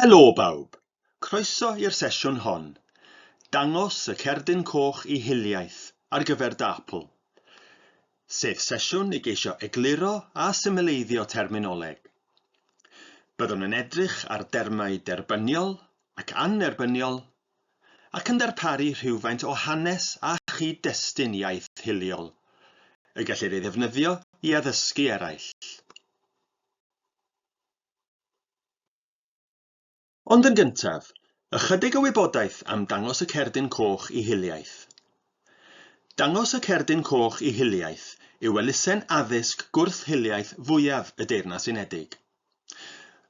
Helo bawb! Croeso i'r sesiwn hon. Dangos y cerdyn coch i hiliaeth ar gyfer dy apl. Sef sesiwn i geisio egluro a symleiddio terminoleg. Byddwn yn edrych ar dermau derbyniol ac annerbyniol ac yn darparu rhywfaint o hanes a chyd-destun iaith hiliol y gellir ei ddefnyddio i addysgu eraill. Ond yn gyntaf, ychydig o wybodaeth am Dangos y Cerdyn Coch i Hiliaeth. Dangos y Cerdyn Coch i Hiliaeth yw elusen addysg gwrth-hiliaeth fwyaf y Deyrnas Unedig.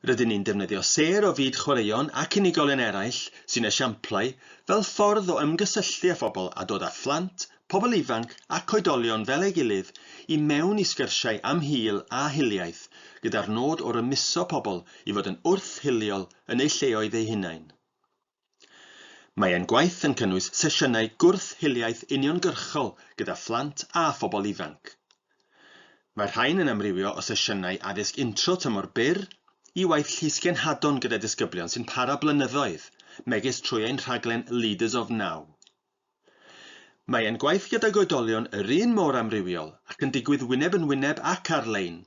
Rydyn ni'n defnyddio sêr o fyd chwaraeon ac unigolion eraill sy'n esiamplau fel ffordd o ymgysylltu â phobl a dod â phlant pobl ifanc ac oedolion fel ei gilydd i mewn i sgyrsiau am hil a hiliaeth gyda'r nod o rymuso pobl i fod yn wrth-hiliol yn eu lleoedd eu hunain. Mae ein gwaith yn cynnwys sesiynau gwrth-hiliaeth uniongyrchol gyda phlant a phobl ifanc. Mae'r rhain yn amrywio o sesiynau addysg intro tymor byr i waith llysgenhadon gyda disgyblion sy'n para blynyddoedd, megis trwy ein rhaglen Leaders of Now. Mae ein gwaith gydag oedolion yr un mor amrywiol ac yn digwydd wyneb yn wyneb ac ar-lein,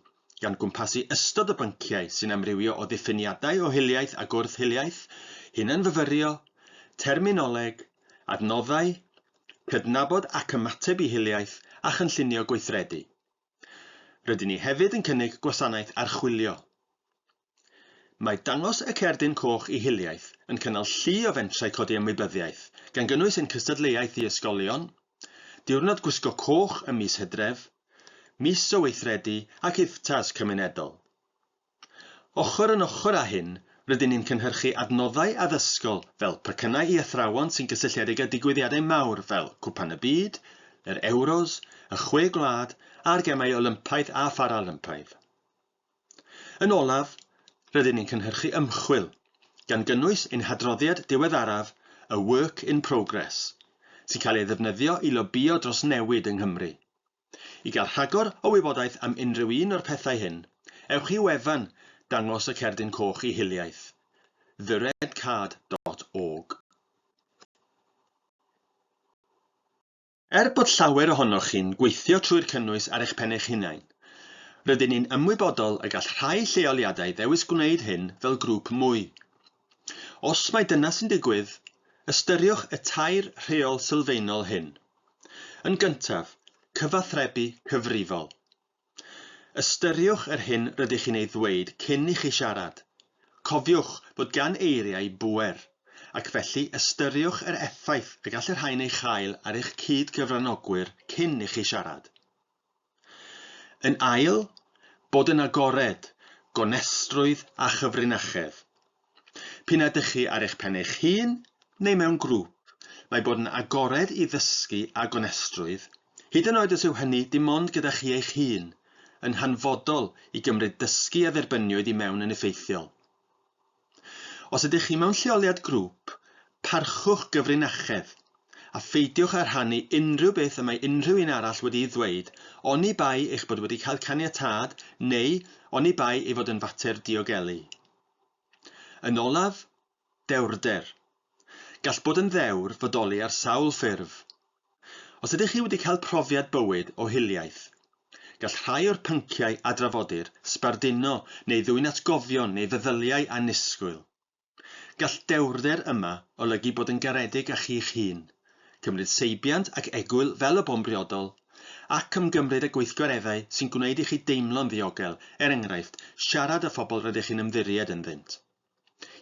gan gwmpasu ystod o bynciau sy'n amrywio o ddiffiniadau o hiliaeth a gwrth-hiliaeth, hunanfyfyrio, terminoleg, adnoddau, cydnabod ac ymateb i hiliaeth a chynllunio gweithredu. Rydyn ni hefyd yn cynnig gwasanaeth archwilio. Mae Dangos y Cerdyn Coch i Hiliaeth yn cynnal llu o fentrau codi ymwybyddiaeth, gan gynnwys ein cystadleuaeth i ysgolion, Diwrnod Gwisgo Coch ym mis Hydref, Mis o Weithredu ac IFTAs cymunedol. Ochr yn ochr â hyn, rydyn ni'n cynhyrchu adnoddau addysgol fel pecynnau i athrawon sy'n gysylltiedig â digwyddiadau mawr fel Cwpan y Byd, yr Euros, y Chwe Gwlad a'r Gemau Olympaidd a Pharalympaidd. Yn olaf, rydyn ni'n cynhyrchu ymchwil, gan gynnwys ein hadroddiad diweddaraf, y Work in Progress, sy'n cael ei ddefnyddio i lobïo dros newid yng Nghymru. I gael rhagor o wybodaeth am unrhyw un o'r pethau hyn, ewch i wefan Dangos y Cerdyn Coch i Hiliaeth, theredcard dot org. Er bod llawer ohonoch chi'n gweithio trwy'r cynnwys ar eich pen eich hunain, rydyn ni'n ymwybodol y gall rhai lleoliadau ddewis gwneud hyn fel grŵp mwy. Os mai dyna sy'n digwydd, ystyriwch y tair rheol sylfaenol hyn. Yn gyntaf, cyfathrebu cyfrifol. Ystyriwch yr hyn rydych chi'n ei ddweud cyn i chi siarad. Cofiwch fod gan eiriau bŵer, ac felly ystyriwch yr effaith y gall y rhain ei chael ar eich cyd-gyfranogwyr cyn i chi siarad. Yn ail, bod yn agored, gonestrwydd a chyfrinachedd. P'un a dych chi ar eich pen eich hun neu mewn grŵp, mae bod yn agored i ddysgu a gonestrwydd, hyd yn oed os yw hynny dim ond gyda chi eich hun, yn hanfodol i gymryd dysgu a dderbyniwyd i mewn yn effeithiol. Os ydych chi mewn lleoliad grŵp, parchwch gyfrinachedd, a pheidiwch â rhannu unrhyw beth y mae unrhyw un arall wedi'i ddweud, oni bai eich bod wedi cael caniatâd neu oni bai ei fod yn fater diogelu. Yn olaf, dewrder. Gall bod yn ddewr fodoli ar sawl ffurf, Os ydych chi wedi cael profiad bywyd o hiliaeth, gall rhai o'r pynciau a drafodir sbarduno neu ddwyn atgofion neu feddyliau annisgwyl. Gall dewrder yma olygu bod yn garedig â chi'ch hun, cymryd seibiant ac egwyl fel y bo'n briodol, ac ymgymryd â gweithgareddau sy'n gwneud i chi deimlo'n ddiogel, er enghraifft, siarad â phobl rydych chi'n ymddiried ynddynt.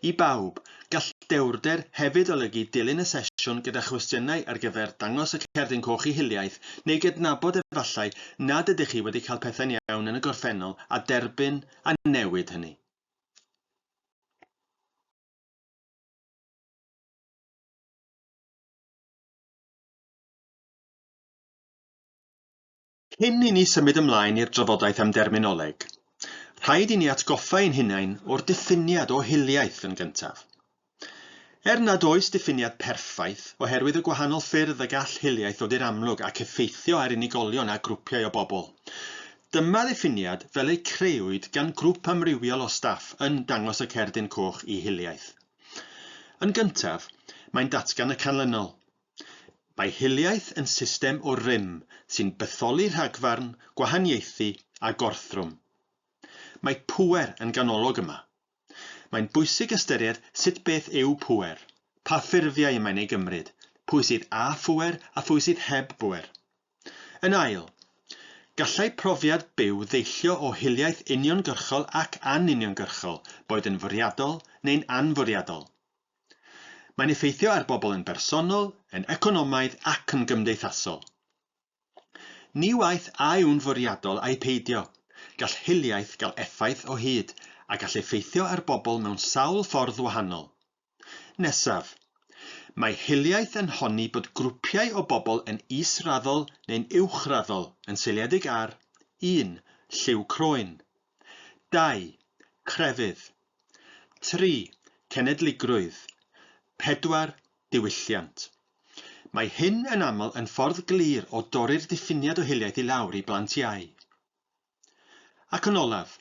I bawb, gall dewrder hefyd olygu dilyn y sesiwn gyda chwestiynau ar gyfer dangos y Cerdyn Coch i hiliaeth neu gydnabod efallai nad ydych chi wedi cael pethau'n iawn yn y gorffennol a derbyn a newid hynny. Cyn i ni symud ymlaen i'r drafodaeth am derminoleg, rhaid i ni atgoffa ein hunain o'r diffiniad o hiliaeth yn gyntaf. Er nad oes diffiniad perffaith, oherwydd y gwahanol ffyrdd y gall hiliaeth ddod i'r amlwg ac effeithio ar unigolion a grwpiau o bobl, dyma ddiffiniad fel eu crëwyd gan grŵp amrywiol o staff yn Dangos y Cerdyn Coch i Hiliaeth. Yn gyntaf, mae'n datgan y canlynol. Mae hiliaeth yn system o rym sy'n bytholi rhagfarn, gwahaniaethu a gorthrwm. Mae pŵer yn ganolog yma. Mae'n bwysig ystyried sut beth yw pŵer, pa ffurfiau y mae'n ei gymryd, pwy sydd â phŵer a phwy sydd heb bŵer. Yn ail, gallai profiad byw ddeillio o hiliaeth uniongyrchol ac anuniongyrchol, boed yn fwriadol neu'n anfwriadol. Mae'n effeithio ar bobl yn bersonol, yn economaidd ac yn gymdeithasol. Ni waeth a yw'n fwriadol ai peidio, gall hiliaeth gael effaith o hyd a gall effeithio ar bobl mewn sawl ffordd wahanol. Nesaf. Mae hiliaeth yn honni bod grwpiau o bobl yn is-raddol neu'n uwch-raddol yn seiliedig ar, un, lliw croen, 2. Crefydd. 3. Cenedligrwydd. 4. Diwylliant. Mae hyn yn aml yn ffordd glir o dorri'r diffiniad o hiliaeth i lawr i blant iau. Ac yn olaf,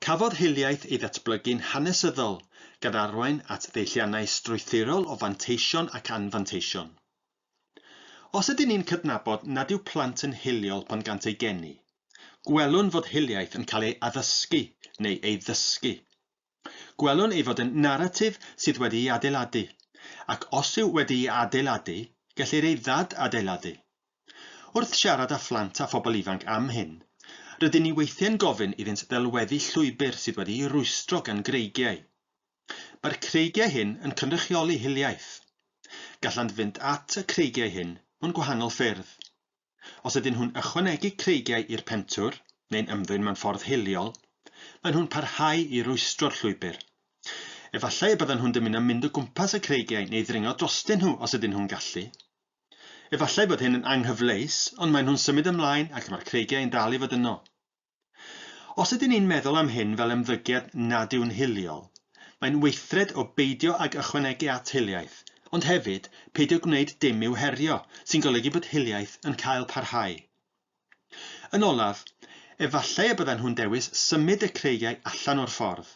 cafodd hiliaeth ei ddatblygu'n hanesyddol gan arwain at ddeilliannau strwythurol o fanteision ac anfanteision. Os ydyn ni'n cydnabod nad yw plant yn hiliol pan gant eu geni, gwelwn fod hiliaeth yn cael ei addysgu neu ei ddysgu. Gwelwn ei fod yn naratif sydd wedi'i adeiladu, ac os yw wedi'i adeiladu, gellir ei ddad-adeiladu. Wrth siarad â phlant a phobl ifanc am hyn, rydyn ni weithiau'n gofyn iddynt ddelweddu llwybr sydd wedi'i rwystro gan greigiau. Mae'r creigiau hyn yn cynrychioli hiliaeth. Gallant fynd at y creigiau hyn mewn gwahanol ffyrdd. Os ydyn nhw'n ychwanegu creigiau i'r pentwr, neu'n ymddwyn mewn ffordd hiliol, maen nhw'n parhau i rwystro'r llwybr. Efallai y byddan nhw'n dymuno mynd o gwmpas y creigiau neu ddringo drostyn nhw os ydyn nhw'n gallu. Efallai bod hyn yn anghyfleus, ond maen nhw'n symud ymlaen ac mae'r creigiau yn dal i fod yno. Os ydyn ni'n meddwl am hyn fel ymddygiad nad yw'n hiliol, mae'n weithred o beidio ag ychwanegu at hiliaeth, ond hefyd, peidio gwneud dim i'w herio, sy'n golygu bod hiliaeth yn cael parhau. Yn olaf, efallai y byddan nhw'n dewis symud y creigiau allan o'r ffordd.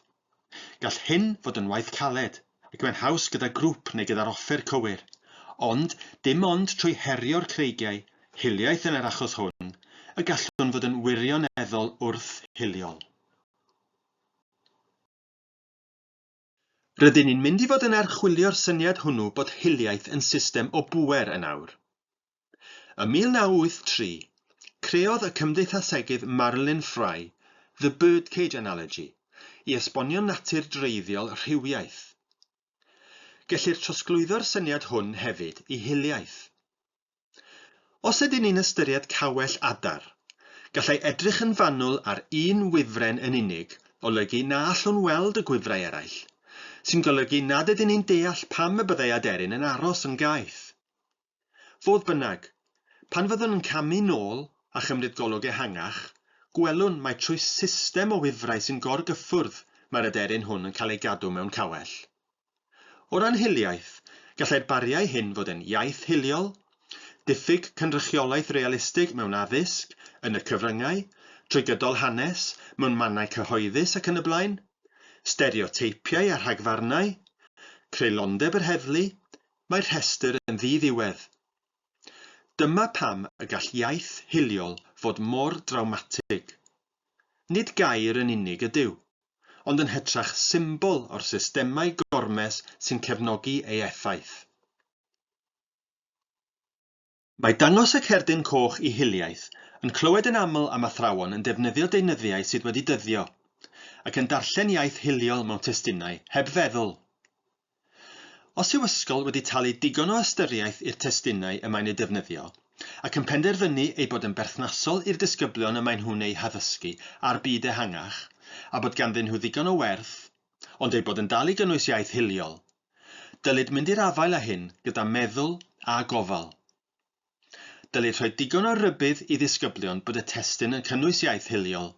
Gall hyn fod yn waith caled, ac mae'n haws gyda grŵp neu gyda'r offer cywir, ond dim ond trwy herio'r creigiau, hiliaeth yn yr achos hwn, y gallwn fod yn wirioneddol wrth-hiliol. Rydyn ni'n mynd i fod yn archwilio'r syniad hwnnw bod hiliaeth yn system o bŵer yn awr. Ym 1983, creodd y cymdeithasegydd Marilyn Frye The Birdcage Analogy i esbonio natur dreiddiol rhywiaeth. Gellir trosglwyddo'r syniad hwn hefyd i hiliaeth. Os ydyn ni'n ystyried cawell adar, gallai edrych yn fanwl ar un wifren yn unig olygu na allwn weld y gwifrau eraill, sy'n golygu nad ydyn ni'n deall pam y byddai aderyn yn aros yn gaeth. Fodd bynnag, pan fyddwn yn camu nôl a chymryd golwg ehangach, gwelwn mai trwy system o wifrau sy'n gorgyffwrdd mae'r aderyn hwn yn cael ei gadw mewn cawell. O ran hiliaeth, gallai'r bariau hyn fod yn iaith hiliol, diffyg cynrychiolaeth realistig mewn addysg, yn y cyfryngau, trwy gydol hanes, mewn mannau cyhoeddus ac yn y blaen, stereoteipiau a rhagfarnau, creulondeb yr heddlu, mae'r rhestr yn ddi-ddiwedd. Dyma pam y gall iaith hiliol fod mor drawmatig. Nid gair yn unig ydyw, ond yn hytrach symbol o'r systemau gormes sy'n cefnogi ei effaith. Mae dangos y cerdyn coch i hiliaeth yn clywed yn aml am athrawon yn defnyddio deunyddiau sydd wedi dyddio, ac yn darllen iaith hiliol mewn testunau heb feddwl. Os yw ysgol wedi talu digon o ystyriaeth i'r testunau y mae'n eu defnyddio, ac yn penderfynu eu bod yn berthnasol i'r disgyblion y maen nhw'n eu haddysgu a'r byd ehangach, a bod ganddyn nhw ddigon o werth, ond eu bod yn dal i gynnwys iaith hiliol, Dylid mynd i'r afael â hyn gyda meddwl a gofal. Dylid rhoi digon o rybudd i ddisgyblion bod y testun yn cynnwys iaith hiliol.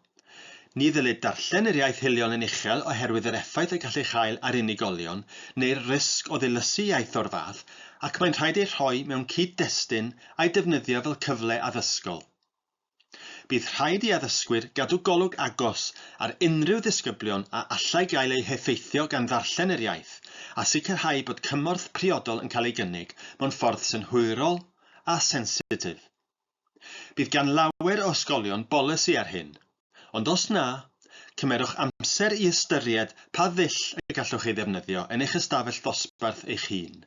Ni ddylid darllen yr iaith hiliol yn uchel oherwydd yr effaith y gall ei chael ar unigolion neu'r risg o ddilysu iaith o'r fath ac mae'n rhaid ei rhoi mewn cyd-destun a'i defnyddio fel cyfle addysgol. Bydd rhaid i addysgwyr gadw golwg agos ar unrhyw ddisgyblion a allai gael eu heffeithio gan ddarllen yr iaith, a sicrhau bod cymorth priodol yn cael ei gynnig mewn ffordd synhwyrol a sensitif. Bydd gan lawer o ysgolion bolisi ar hyn, ond os na, cymerwch amser i ystyried pa ddull y gallwch ei ddefnyddio yn eich ystafell ddosbarth eich hun.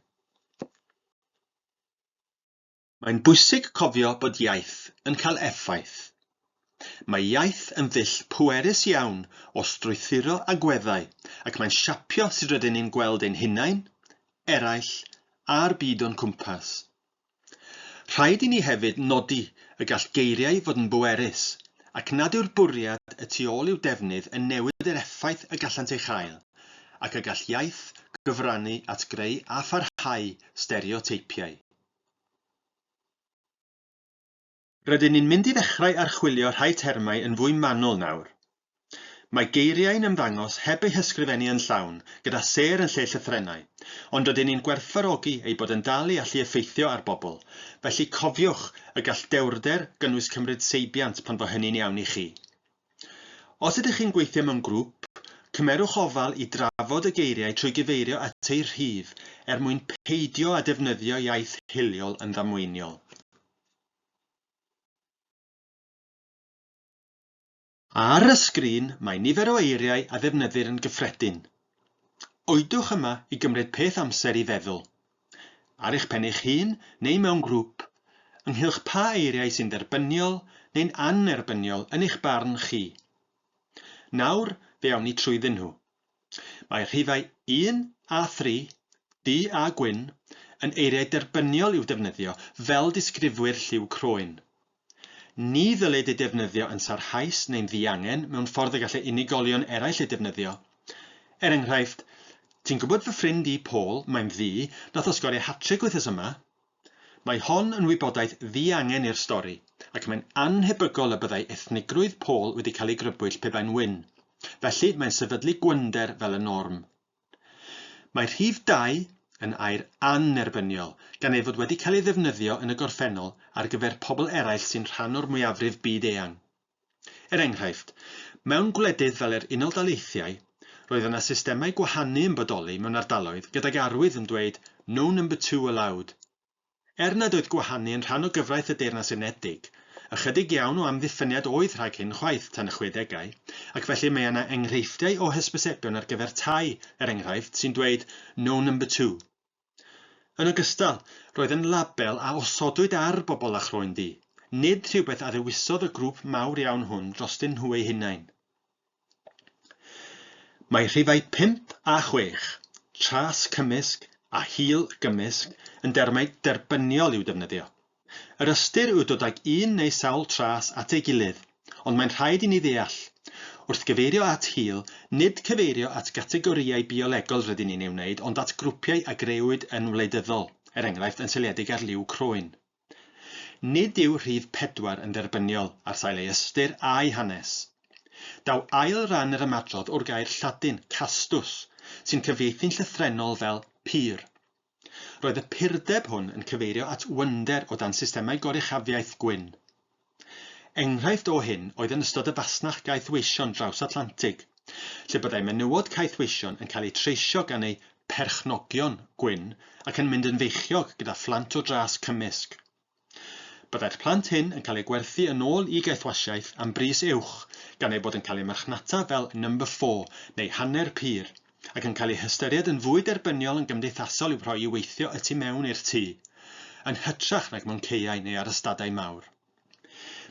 Mae'n bwysig cofio bod iaith yn cael effaith. Mae iaith yn ddull pwerus iawn o strwythuro agweddau ac mae'n siapio sut rydyn ni'n gweld ein hunain, eraill, a'r byd o'n cwmpas. Rhaid i ni hefyd nodi y gall geiriau fod yn bwerus ac nad yw'r bwriad y tu ôl i'w defnydd yn newid yr effaith y gallant ei chael ac y gall iaith gyfrannu at greu a pharhau stereoteipiau. Rydyn ni'n mynd i ddechrau archwilio rhai termau yn fwy manwl nawr. Mae geiriau'n ymddangos heb eu hysgrifennu yn llawn, gyda sêr yn lle llythrennau, ond rydyn ni'n gwerthfawrogi eu bod yn dal i allu effeithio ar bobl, felly cofiwch y gall dewrder gynnwys cymryd seibiant pan fo hynny'n iawn i chi. Os ydych chi'n gweithio mewn grŵp, cymerwch ofal i drafod y geiriau trwy gyfeirio at eu rhif er mwyn peidio â defnyddio iaith hiliol yn ddamweiniol. Ar y sgrin mae nifer o eiriau a ddefnyddir yn gyffredin. Oedwch yma i gymryd peth amser i feddwl. ar eich pen eich hun neu mewn grŵp, ynghylch pa eiriau sy'n dderbyniol neu'n annerbyniol yn eich barn chi. Nawr fe awn ni trwyddyn nhw. Mae rhifau 1 a 3, du a gwyn, yn eiriau derbyniol i'w defnyddio fel disgrifwyr lliw croen. Ni ddylid ei defnyddio yn sarhaus neu'n ddiangen mewn ffordd y gallai unigolion eraill ei defnyddio. Er enghraifft, Ti'n gwybod fy ffrind i, Paul, mae'n ddu, nath o sgorio hat-tric wythnos yma? Mae hon yn wybodaeth ddiangen i'r stori, ac mae'n annhebygol y byddai ethnigrwydd Paul wedi cael ei grybwyll pe bai'n wyn. Felly, mae'n sefydlu gwynder fel y norm. Mae rhif dau yn air annerbyniol, gan ei fod wedi cael ei ddefnyddio yn y gorffennol ar gyfer pobl eraill sy'n rhan o'r mwyafrif byd eang. Er enghraifft, mewn gwledydd fel yr Unol Daleithiau, roedd yna systemau gwahanu yn bodoli mewn ardaloedd gydag arwydd yn dweud 'No number two allowed'. Er nad oedd gwahanu yn rhan o gyfraith y Deyrnas Unedig, ychydig iawn o amddiffyniad oedd rhag hyn chwaith tan y chwedegau, ac felly mae yna enghreifftiau o hysbysebion ar gyfer tai, er enghraifft, sy'n dweud 'No Number Two'. Yn ogystal, roedd yn label a osodwyd ar bobl â chroen du, nid rhywbeth a ddewisodd y grŵp mawr iawn hwn drostyn nhw eu hunain. Mae rhifau pump a chwech, tras cymysg a hil gymysg, yn dermau derbyniol i'w defnyddio. Yr ystyr yw dod ag un neu sawl tras at ei gilydd, ond mae'n rhaid i ni ddeall, wrth gyfeirio at hil, nid cyfeirio at gategorïau biolegol rydyn ni'n ei wneud ond at grwpiau a grëwyd yn wleidyddol, er enghraifft, yn seiliedig ar liw croen. Nid yw rhif pedwar yn dderbyniol ar sail ei ystyr a'i hanes. Daw ail ran yr ymadrodd o'r gair Lladin castus, sy'n cyfieithu'n llythrennol fel 'pur'. Roedd y purdeb hwn yn cyfeirio at wynder o dan systemau goruchafiaeth gwyn. Enghraifft o hyn oedd yn ystod y fasnach gaethweision draws-Atlantig, lle byddai menywod caethweision yn cael eu treisio gan eu perchnogion gwyn ac yn mynd yn feichiog gyda phlant o dras cymysg. Byddai'r plant hyn yn cael eu gwerthu yn ôl i gaethwasiaeth am bris uwch gan eu bod yn cael eu marchnata fel number four neu hanner pur ac yn cael ei hystyried yn fwy derbyniol yn gymdeithasol i'w rhoi i weithio y tu mewn i'r tŷ, yn hytrach nag mewn caeau neu ar ystadau mawr.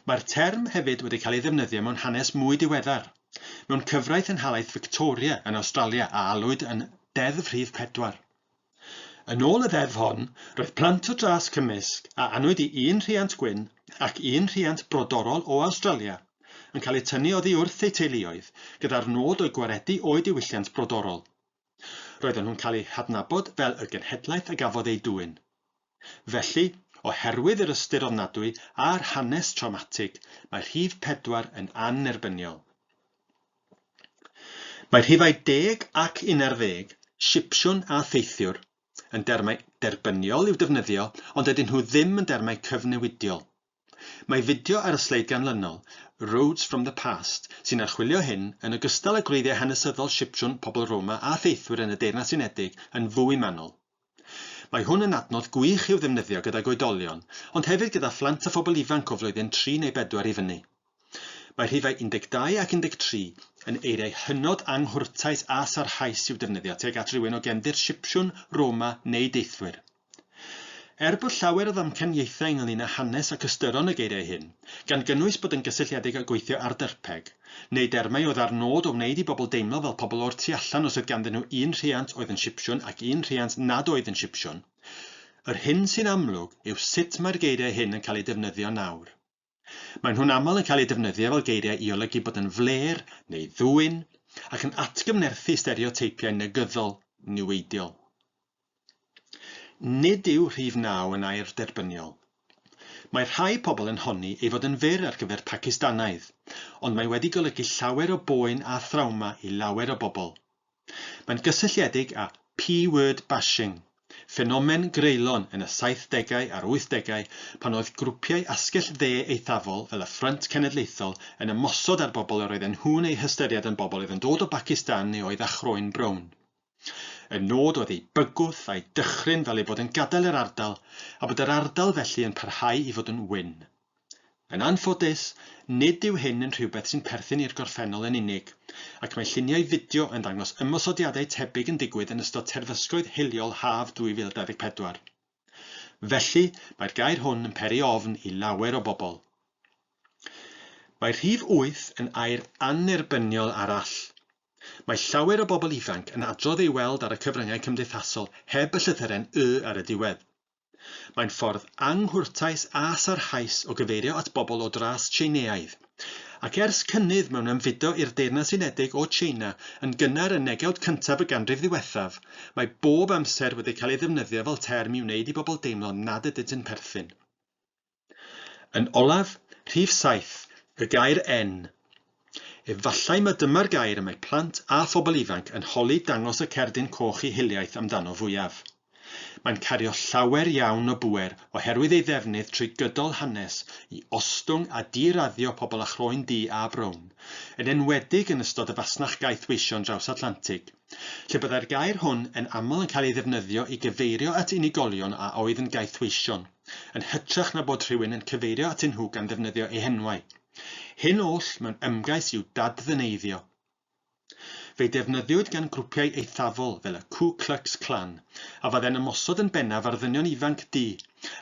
Mae'r term hefyd wedi cael ei ddefnyddio mewn hanes mwy diweddar, mewn cyfraith yn Nhalaith Victoria yn Awstralia a alwyd yn Deddf Rhif Pedwar. Yn ôl y ddeddf hon, roedd plant o dras cymysg a anwyd i un rhiant gwyn ac un rhiant brodorol o Awstralia yn cael eu tynnu oddi wrth eu teuluoedd gyda'r nod o'u gwaredu o'u diwylliant brodorol. Roedden nhw'n cael eu hadnabod fel y genhedlaeth a gafodd eu dwyn. Felly, oherwydd yr ystyr ofnadwy a'r hanes trawmatig, mae rhif pedwar yn annerbyniol. Mae rhifau deg ac unarddeg, Sipsiwn a Theithiwr, yn dermau derbyniol i'w defnyddio ond dydyn nhw ddim yn dermau cyfnewidiol. Mae fideo ar y sleid ganlynol, Roads from the Past, sy'n archwilio hyn, yn ogystal â gwreiddiau hanesyddol Sipsiwn, pobl Roma a theithwyr yn y Deyrnas Unedig, yn fwy manwl. Mae hwn yn adnodd gwych i'w ddefnyddio gydag oedolion, ond hefyd gyda phlant a phobl ifanc o flwyddyn tri neu bedwar i fyny. Mae rhifau 12 ac 13 yn eiriau hynod anghwrtais a sarhaus i'w defnyddio tuag at rywun o gefndir Sipsiwn, Roma neu deithwyr. Er bod llawer o ddamcaniaethau ynglŷn â hanes ac ystyron y geiriau hyn, gan gynnwys bod yn gysylltiedig â gweithio ar dyrpeg, neu dermau oedd â'r nod o wneud i bobl deimlo fel pobl o'r tu allan os oedd ganddyn nhw un rhiant oedd yn Sipsiwn ac un rhiant nad oedd yn Sipsiwn, yr hyn sy'n amlwg yw sut mae'r geiriau hyn yn cael eu defnyddio nawr. Maen nhw'n aml yn cael eu defnyddio fel geiriau i olygu bod yn flêr neu ddwyn ac yn atgyfnerthu stereoteipiau negyddol niweidiol. Nid yw rhif naw yn air derbyniol. Mae rhai pobl yn honni ei fod yn fyr ar gyfer Pacistanaidd, ond mae wedi golygu llawer o boen a thrawma i lawer o bobl. Mae'n gysylltiedig â P-word bashing, ffenomen greulon yn y saithdegau a'r wythdegau pan oedd grwpiau asgell dde eithafol fel y Ffrynt Cenedlaethol yn ymosod ar bobl yr oedden nhw'n eu hystyried yn bobl oedd yn dod o Bacistan neu oedd â chroen brown. Y nod oedd eu bygwth a'u dychryn fel eu bod yn gadael yr ardal a bod yr ardal felly yn parhau i fod yn wyn. Yn anffodus, nid yw hyn yn rhywbeth sy'n perthyn i'r gorffennol yn unig, ac mae lluniau fideo yn dangos ymosodiadau tebyg yn digwydd yn ystod terfysgoedd hiliol haf 2024. Felly, mae'r gair hwn yn peri ofn i lawer o bobl. Mae rhif wyth yn air annerbyniol arall. Mae llawer o bobl ifanc yn adrodd ei weld ar y cyfryngau cymdeithasol heb y llythyren 'y' ar y diwedd. Mae'n ffordd anghwrtais a sarhaus o gyfeirio at bobl o dras Tsieineaidd. Ac ers cynnydd mewn ymfudo i'r Deyrnas Unedig o Tsieina yn gynnar yn negewd cyntaf y ganrif ddiwethaf, mae bob amser wedi cael ei ddefnyddio fel term i wneud i bobl deimlo nad ydynt yn perthyn. Yn olaf, rhif saith, y gair 'en'. Efallai mai dyma'r gair y mae plant a phobl ifanc yn holi dangos y cerdyn coch i hiliaeth amdano fwyaf. Mae'n cario llawer iawn o bŵer oherwydd ei ddefnydd trwy gydol hanes i ostwng a di-raddio pobl â chroen du a brown, yn enwedig yn ystod y fasnach gaeth weisio'n draws Atlantig. lle byddai'r gair hwn yn aml yn cael ei ddefnyddio i gyfeirio at unigolion a oedd yn gaethweision, yn hytrach na bod rhywun yn cyfeirio atyn nhw gan ddefnyddio eu henwau. Hyn oll mewn ymgais i'w dad-ddyneiddio. Fe'i defnyddiwyd gan grwpiau eithafol fel y Ku Klux Klan, a fydde'n ymosod yn bennaf ar ddynion ifanc du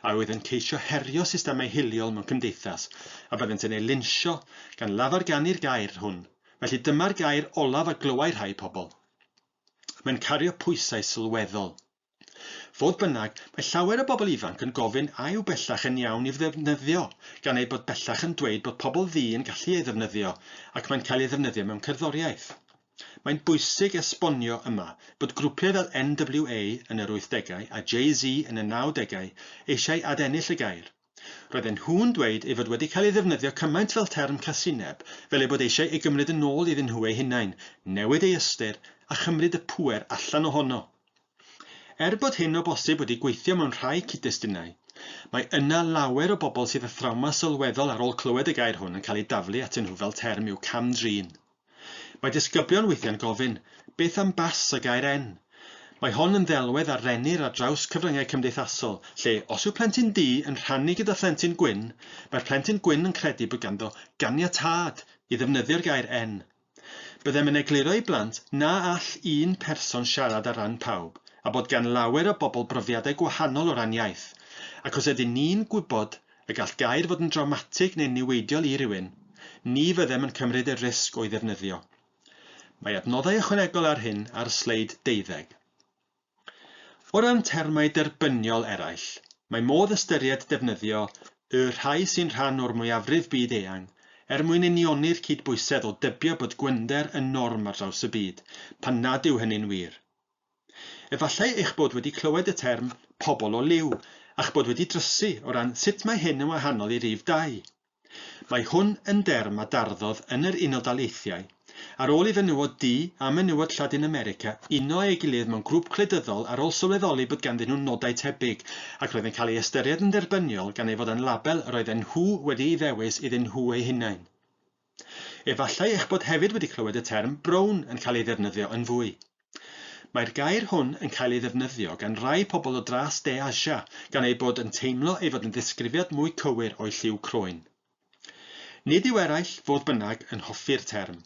a oedd yn ceisio herio systemau hiliol mewn cymdeithas, a byddent yn eu linsio gan lafarganu'r gair hwn. Felly dyma'r gair olaf a glywai rhai pobl. Mae'n cario pwysau sylweddol. Fodd bynnag, mae llawer o bobl ifanc yn gofyn a yw bellach yn iawn i'w ddefnyddio, gan eu bod bellach yn dweud bod pobl ddu yn gallu ei ddefnyddio ac mae'n cael ei ddefnyddio mewn cerddoriaeth. Mae'n bwysig esbonio yma bod grwpiau fel NWA yn yr wythdegau a Jay-Z yn y nawdegau eisiau adennill y gair. Roedden nhw'n dweud ei fod wedi cael ei ddefnyddio cymaint fel term casineb, fel eu bod eisiau ei gymryd yn ôl iddyn nhw eu hunain, newid ei ystyr, a chymryd y pŵer allan ohono. Er bod hyn o bosib wedi gweithio mewn rhai cyd-destunau, mae yna lawer o bobl sydd â thrawma sylweddol ar ôl clywed y gair hwn yn cael ei daflu atyn nhw fel term i'w cam-drin. Mae disgyblion weithiau'n gofyn, Beth am bas a gair en? Mae hon yn ddelwedd a rennir ar draws cyfryngau cymdeithasol, lle os yw plentyn du yn rhannu gyda phlentyn gwyn, mae'r plentyn gwyn yn credu bod ganddo ganiatâd i ddefnyddio'r gair en. Byddem yn egluro i blant na all un person siarad ar ran pawb, a bod gan lawer o bobl brofiadau gwahanol o ran iaith, ac os ydyn ni'n gwybod Y gall gair fod yn drawmatig neu'n niweidiol i rywun, ni fyddem yn cymryd y risg o'i ddefnyddio. Mae adnoddau ychwanegol ar hyn ar sleid deuddeg. O ran termau derbyniol eraill, mae modd ystyried defnyddio y rhai sy'n rhan o'r mwyafrif byd eang er mwyn unioni'r cydbwysedd o dybio bod gwynder yn norm ar draws y byd, pan nad yw hynny'n wir. Efallai eich bod wedi clywed y term 'pobl o liw' a'ch bod wedi drysu o ran sut mae hyn yn wahanol i rif dau. Mae hwn yn derm a darddodd yn yr Unol Daleithiau ar ôl i fenywod du a menywod Lladin America uno eu gilydd mewn grŵp gwleidyddol ar ôl sylweddoli bod ganddyn nhw nodau tebyg ac roedd yn cael ei ystyried yn dderbyniol gan ei fod â'n label yr oedden nhw wedi'i ddewis iddyn nhw eu hunain. Efallai eich bod hefyd wedi clywed y term 'brown' yn cael ei ddefnyddio yn fwy. Mae'r gair hwn yn cael ei ddefnyddio gan rai pobl o dras De Asia gan eu bod yn teimlo ei fod yn ddisgrifiad mwy cywir o'u lliw croen. Nid yw eraill, fodd bynnag, yn hoffi'r term.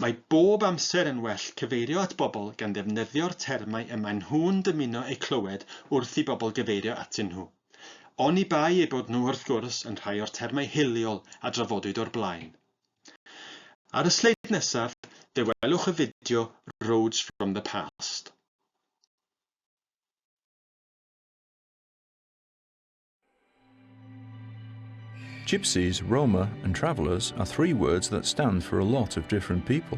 Mae bob amser yn well cyfeirio at bobl gan ddefnyddio'r termau y maen nhw'n dymuno eu clywed wrth i bobl gyfeirio atyn nhw. Oni bai eu bod nhw, wrth gwrs, yn rhai o'r termau hiliol a drafodwyd o'r blaen. Ar y sleid nesaf, fe welwch y fideo Roads from the Past. Gypsies, Roma and travellers are three words that stand for a lot of different people.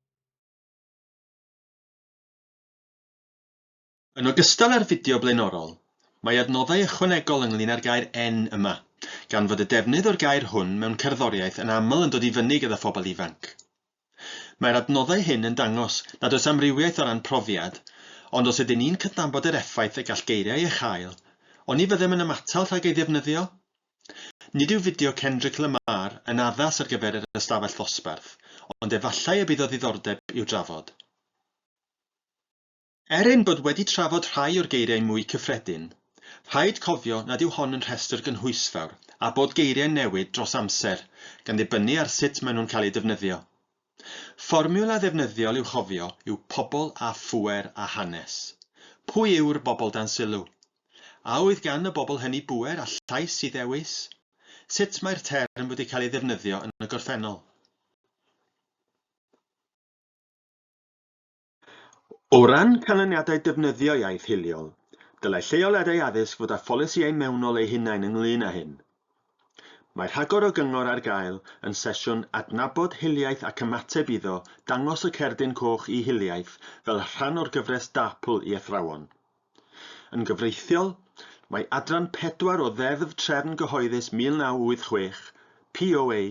Yn ogystal â'r fideo blaenorol, mae adnoddau ychwanegol ynglŷn â'r gair 'en' yma, gan fod y defnydd o'r gair hwn mewn cerddoriaeth yn aml yn dod i fyny gyda phobl ifanc. Mae'r adnoddau hyn yn dangos nad oes amrywiaeth o ran profiad, ond os ydyn ni'n cydnabod yr effaith y gall geiriau ei chael, oni fyddem yn ymatal rhag ei ddefnyddio? Nid yw fideo Kendrick Lamar yn addas ar gyfer yr ystafell ddosbarth, ond efallai y bydd o ddiddordeb i'w drafod. Er ein bod wedi trafod rhai o'r geiriau mwy cyffredin, rhaid cofio nad yw hon yn rhestr gynhwysfawr a bod geiriau'n newid dros amser gan ddibynnu ar sut maen nhw'n cael eu defnyddio. Fformiwla ddefnyddiol i'w chofio yw pobl a phŵer a hanes. Pwy yw'r bobl dan sylw? A oedd gan y bobl hynny bŵer a llais i ddewis? Sut mae'r term wedi cael ei ddefnyddio yn y gorffennol? O ran canlyniadau defnyddio iaith hiliol, dylai lleoliadau addysg fod â pholisïau mewnol eu hunain ynglŷn â hyn. Mae rhagor o gyngor ar gael yn sesiwn Adnabod Hiliaeth ac Ymateb iddo dangos y cerdyn coch i hiliaeth fel rhan o'r gyfres DAPL i athrawon. Yn gyfreithiol, mae adran pedwar o Ddeddf Trefn Gyhoeddus 1986, POA,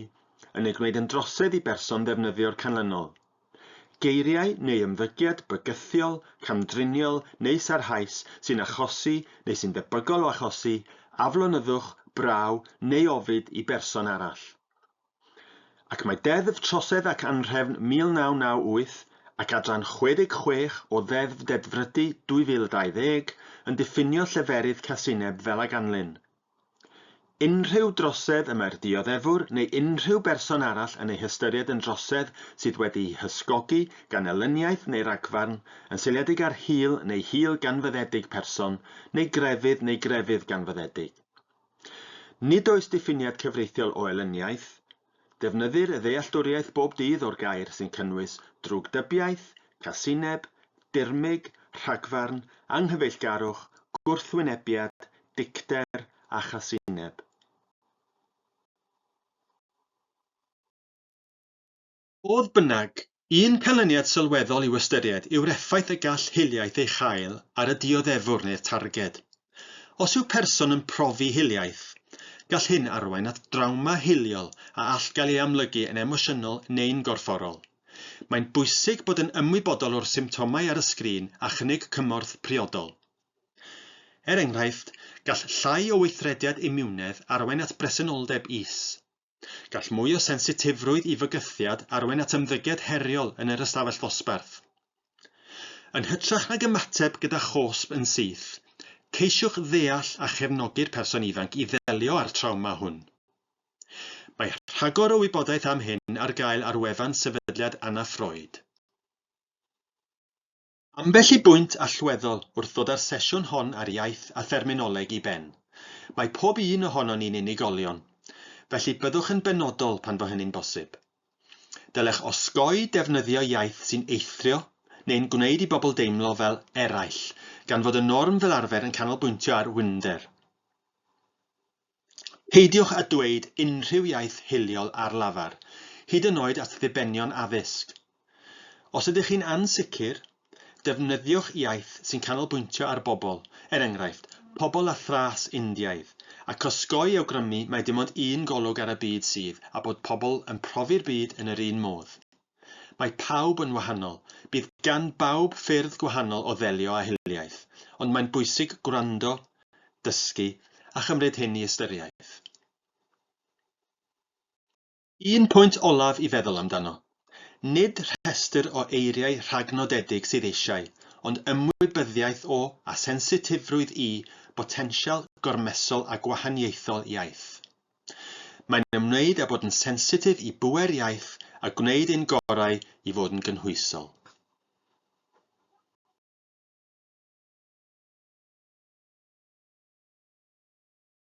yn ei gwneud yn drosedd i berson ddefnyddio'r canlynol. Geiriau neu ymddygiad bygythiol, camdriniol neu sarhaus sy'n achosi neu sy'n debygol o achosi aflonyddwch, braw neu ofid i berson arall. Ac mae Deddf Trosedd ac Anhrefn 1998 ac adran 66 o Ddeddf Dedfrydu 2020 yn diffinio lleferydd casineb fel a ganlyn, Unrhyw drosedd y mae'r dioddefwr neu unrhyw berson arall yn ei hystyried yn drosedd sydd wedi'i hysgogi gan elyniaeth neu ragfarn, yn seiliedig ar hil neu hil ganfyddedig person, neu grefydd neu grefydd ganfyddedig. Nid oes diffiniad cyfreithiol o elyniaeth, Defnyddir y ddealltwriaeth bob dydd o'r gair sy'n cynnwys drwgdybiaeth, casineb, dirmyg, rhagfarn, anghyfeillgarwch, gwrthwynebiad, dicter a chasineb. Fodd bynnag, Un canlyniad sylweddol i'w ystyried yw'r effaith y gall hiliaeth ei chael ar y dioddefwr neu'r targed. Os yw person yn profi hiliaeth, gall hyn arwain at drawma hiliol a all gael ei amlygu yn emosiynol neu'n gorfforol. Mae'n bwysig bod yn ymwybodol o'r symptomau ar y sgrin a chynnig cymorth priodol. Er enghraifft, gall llai o weithrediad imiwnedd arwain at bresenoldeb is. Gall mwy o sensitifrwydd i fygythiad arwain at ymddygiad heriol yn yr ystafell ddosbarth. Yn hytrach nag ymateb gyda chosb yn syth, ceisiwch ddeall a chefnogi'r person ifanc i ddelio â'r trawma hwn. Mae rhagor o wybodaeth am hyn ar gael ar wefan Sefydliad Anna Freud. Ambell i bwynt allweddol wrth ddod â'r sesiwn hon ar Iaith a Therminoleg i ben. Mae pob un ohonon ni'n unigolion, felly byddwch yn benodol pan fo hynny'n bosib. Dylech osgoi defnyddio iaith sy'n eithrio neu'n gwneud i bobl deimlo fel 'eraill', gan fod y norm fel arfer yn canolbwyntio ar winder. Peidiwch â dweud unrhyw iaith hiliol ar lafar, hyd yn oed at ddibenion addysg. Os ydych chi'n ansicr, defnyddiwch iaith sy'n canolbwyntio ar bobl, er enghraifft, pobl â thras Indiaidd, ac osgoi awgrymu mai dim ond un golwg ar y byd sydd, a bod pobl yn profi'r byd yn yr un modd. Mae pawb yn wahanol, bydd gan bawb ffyrdd gwahanol o ddelio â hiliaeth, ond mae'n bwysig gwrando, dysgu, a chymryd hyn i ystyriaeth. Un pwynt olaf i feddwl amdano, nid rhestr o eiriau rhagnodedig sydd eisiau, ond ymwybyddiaeth o, a sensitifrwydd i, botensial gormesol a gwahaniaethol iaith. Mae'n ymwneud â bod yn sensitif i bŵer iaith a gwneud ein gorau i fod yn gynhwysol.